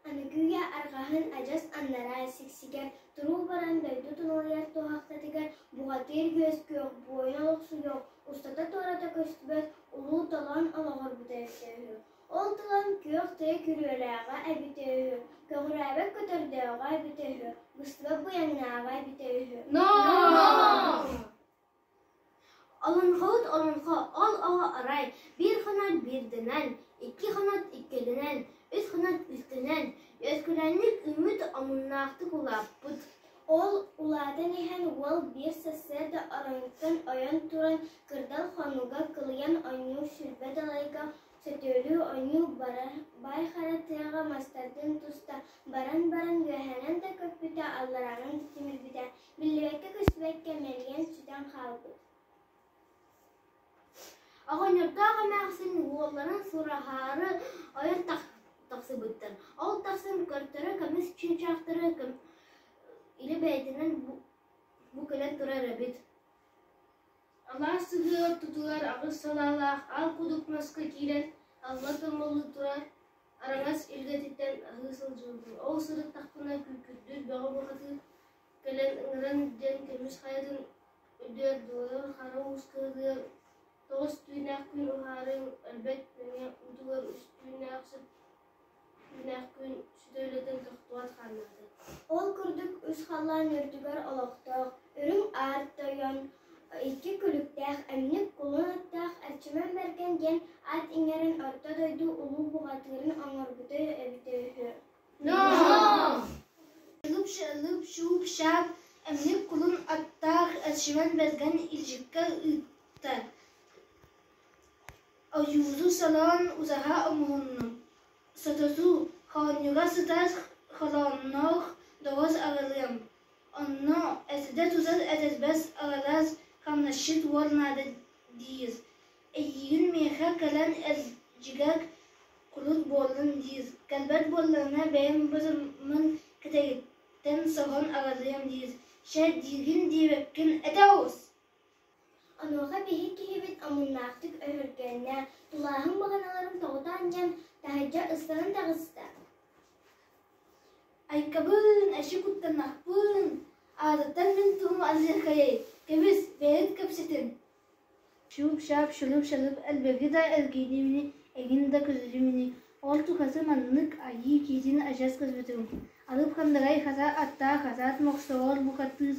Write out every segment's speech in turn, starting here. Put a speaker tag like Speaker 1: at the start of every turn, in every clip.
Speaker 1: Аныгыйы арҕаһын адьас аннараа сиксигэр туруу баран дойду тулалыйар туһахтатыгар бухатыыр күөс-күөх, буойа олохсуйуох, устата-туората көстүбэт улуу толоон олоҕурбута өссө үһү. Ол толоон күөх-тыа күрүөлээҕэ эбитэ үһү, көҕүрээбэт көтөрдөөҕө эбитэ үһү, быстыбат буйаҥнааҕа эбитэ үһү. Олоҥхобут олоҥхо ол оҕо арай биир хонон биирдэнэн, икки хонон иккилэнэн, үс хонон үстэнэн үөскүүлэнник үүммүт омуннаахтык улааппыт. Ол улаатан иһэн уол биир сарсыарда ороҥҥуттан ойон туран кырдал хонууга кылыйан ойнуу сүүрбэ далайга сөтүөлүү ойнуу бара баай хара тыаҕа мастардын туста баран баран үөһэнэн да көппүтэ алларааҕын симирбитэ Биллибэккэ-көстүбэккэ мэлийэн сүтэн хаалбыт. Оҕонньордоох эмээхсин уолларын сураһаары ойон тахсыбыттар. Ол тахсан көрдөрө көмүс чыычаахтары илэ бэйэтинэн бу кэлэн турар эбит Алаас сыһыы ортотугар аҕыс салаалаах аал кудук маска киирэн алла томоллуу турар араҥас илгэтиттэн аһыы сылдьыбытым ол сырыттахпына күүкүрдүүр бөҕө бухатыыр кэлэн ыҥыран диэн көмүс хайатын үдүөрдүгэр хара уус кыһатыгар тоҕус түүнээх күн уһаарын өлбөт нөҥүө уутугар үс түүннээх сүп Күннээх күн сүтэ үлэтин тохтубат хааннаатыҥ Ол курдук үс халлаан үрдүгэр олохтоох үрүҥ аар тойон икки күлүктээх эмньик кулун аттаах Эрчимэн Бэргэн диэн ат иҥэрин орто дойду улуу бухатыырын оҥорбута эбитэ үһү Лыпшаап эмньик кулун аттаах Эрчимэн Бэргэн илдьиккэ ыытта Ойууру солоон узаһа оҥоһуннум, сототуу, хоонньуга сытар холоонноох доҕос аҕалыам, онно этитэ-тутар этэрбэс аҕалаас хамначчыт уол наада диир, эйиигин миэхэ кэлэн илдьигэр кулут буоллун диир, кэлбэт буоллаҕына бэйэм бытыммын кэтэһиттэн соһон аҕалыам диир, чэ диигин диэбэккин этэ оҕус Онуоха биһик киһибит омуннаахтык өһүргэннэ, тулааһын баҕаналарын тоҕута анньан, таһырдьа ыстанан таҕыста. Айкабын, эчи куттанахпын, аатыттан мин туһум аныахайай, кэбис, бэйэҥ кэпсэтин. Чуп-чап, шунуп-шанып элбэги да эргиинимини, эҥин да күлүлүмүнү, ол тукасы маннык айыы киитин адьас көспүтүм. Алып хандарай хата аттаах хатаат мохсоҕор букаттыыс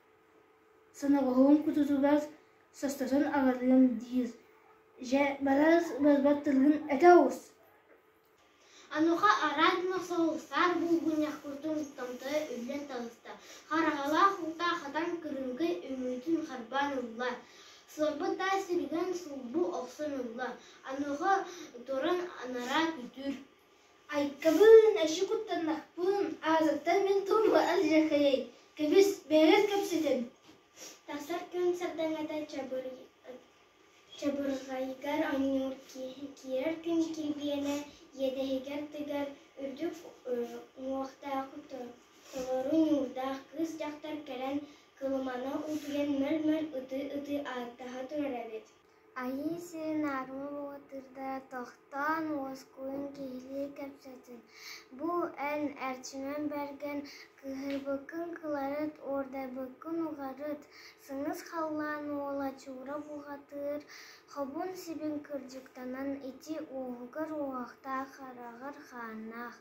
Speaker 1: Сонобоһуом кутутугас состотон аҕаллым диир Дьэ, барарыс бырбар тылгын этэ оҕус Ануха араас мохсоҕуллар булгунньахпытын томторо үллэн таҕыста Хараҥалаах уута хатан кырыымкай үҥүүтүн харбаан ылла Сылбыт таас сиригэн сулбу охсон ылла Ануха туран анараа күтүр Айкабын, аччык куттаннахпын, аатыттан мин туму алдьархайый, кэбис, бэйэҕит кэпсэтин. Тахсар күн сардаҥата чабырҕайгар оонньуур киирэр күн килбиэнэ иэдэһигэр тыгар үрдүк уҥуохтаах толору нуурдаах кыыс дьахтар кэлэн кылымана утуйан мөл-мөл ытыы-ытыы ааттаһа турар эбит Айыы сирин армы баатырда тохтоон уоскуйан киһилии кэпсэтэр: «Бу эн Эрчимэн Бэргэн кыыһырбыккын кыларыт, уордайбыккын угарыт, сыҥыс халлаан уола чуура буһатыыр, хобун сибин кырдьыктанан ити уоһугар уоһахтаах хараҕар хааннаах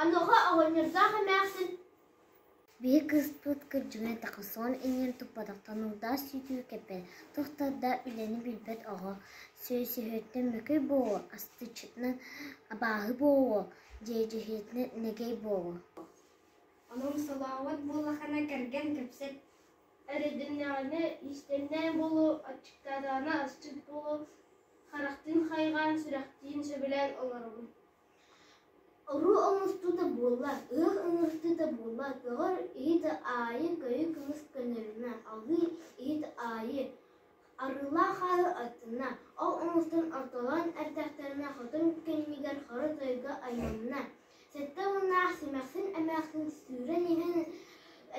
Speaker 1: Онуоха оҕонньордоох эмээхсин биһи кыыспыт кырдьыгын этэххэ иҥэн туппатахтан утаас сүтүү кэппэт, тохтордо үлэни билбэт оҕо, сөйсөһүөттэн мөкүй буолуо, астыччытынан абааһы буолуо, дьээдьэһиэтинэн нэгэй буолуо Эрэйдэннэҕинэ иистэннээн буолуо, аччыктаатаҕына асчыт буолуо, харахтыын хайҕаан, сүрэхтиин сөбүлээн олоробун. Уруу оҥостуута буоллар, ыах ыҥыртыыта буоллар, көҕөр иһит аайы, көйү кымыс көнөрүнэ, алыы иһит аайы, Арыылаах ааһыы аттынна, ол омуктан ортолоон эрдэхтэринэ хотун кэннигэр хору-тойуга айманна. Сэттэ уоннаах симэхсин-эмээхсин сүүрэн иһэн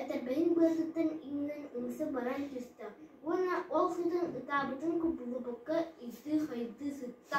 Speaker 1: этэрбэһин быатыттан иҥнэн ымса баран түстэ уонна ол сытан ытаабытын кубулупукка ыйытыы-хайытыы сытта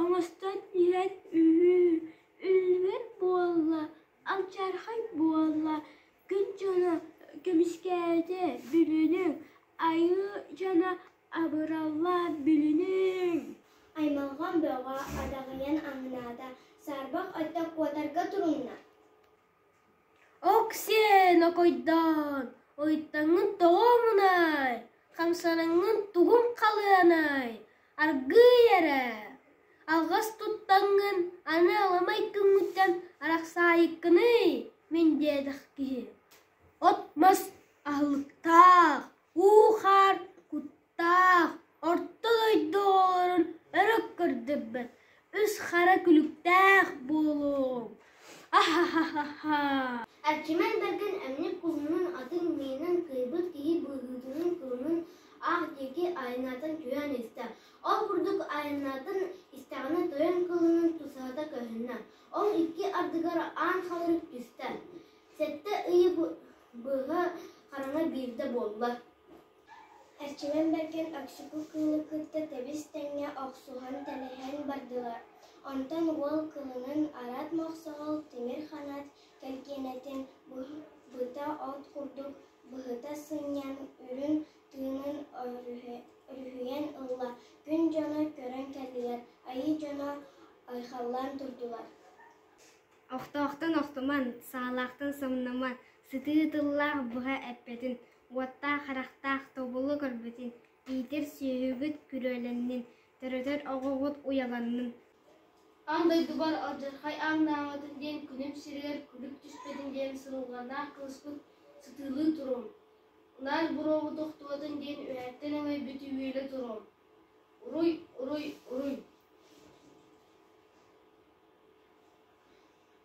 Speaker 1: Оҥостон иһэн үһүү, үллүбэт буолла, алдьархай буолла, күн дьоно көмүскээтэ билиниҥ, айыы дьоно абыралла билиниҥ! Аймалҕан бөҕө адаҕыйан аннаата, саарбах өттө куотарга турунна. Оксен, окойдоон, ойуттаҥҥын тоҕо омунай, хамсанаҥҥын тугун халыанай, аргыый эрэ, алҕас туттаҥҥын аны аламай күҥҥүттэн арахсаайыккыный, мин диэтэх киһи, от-мас аһылыктаах, уу-хаар кут таах орто дойду оҕолорун өрө көрдөрбөт үс хара күлүктээх буолуоҥ аһаһаһаһа Арчиман Баргын эмньик уһунун атын миинэн кыайбыт киһи быһыытынан кылынын аах диэки айаннаатан түһээн истэ ол курдук айаннаатан истэҕинэ тойон кылынын тусаһата көһүннэ ол икки ардыгар аан халырык түстэ сэттэ ый быһа хараҥа биирдэ буолла Эрчимэн Бэргэн Өксүкү кыылы кытта тэбис-тэҥҥэ охсуһан тэлэһэн бардылар, онтон уол кыылын арат мохсоҕол тимир ханат кэлгиэнэтин быта от курдук быһыта сынньан, үрүн тыынын өрүһүйэн ылла, күн дьоно көрөн кэллилэр, айыы дьоно айхаллаан турдулар Охтоохтон охтуман, саалаахтан соҥномон, сытыы тыллаах быһа эппэтин Уоттаах-харахтаах тобулу көрбүтүн, иитэр сүөһүгүт күрүөлэннин, төрөтөр оҕоҕут уйаланнын Аан дойдубар алдьархай ааҥнааматын диэн күнүм сиригэр күлүк түспэтин диэн сонулҕаннаах кылыспыт сытыылыы туруом. Наар буруоҕу тохтуотун диэн үһэттэн өҥөй бүтүһүүлэ туруом. Уруй, уруй, уруй!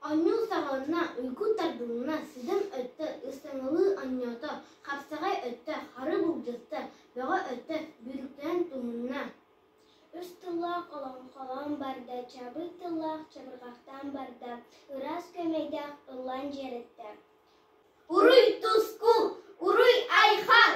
Speaker 1: Оонньуу саҕаланна, уйгу тарбылынна, сыдым өттө, ыстаҥалыы оонньоото, хапсаҕай өттө, хары былдьаста, бөҕө өттө бүрүктэрэн тумунна. Үс тыллаах олоҥхолоон барда, чабыт тыллаах чабырҕахтаан барда, ыраас күөмэйдээх ыллаан дьиэрэттэ. Уруй туску, уруй айхал!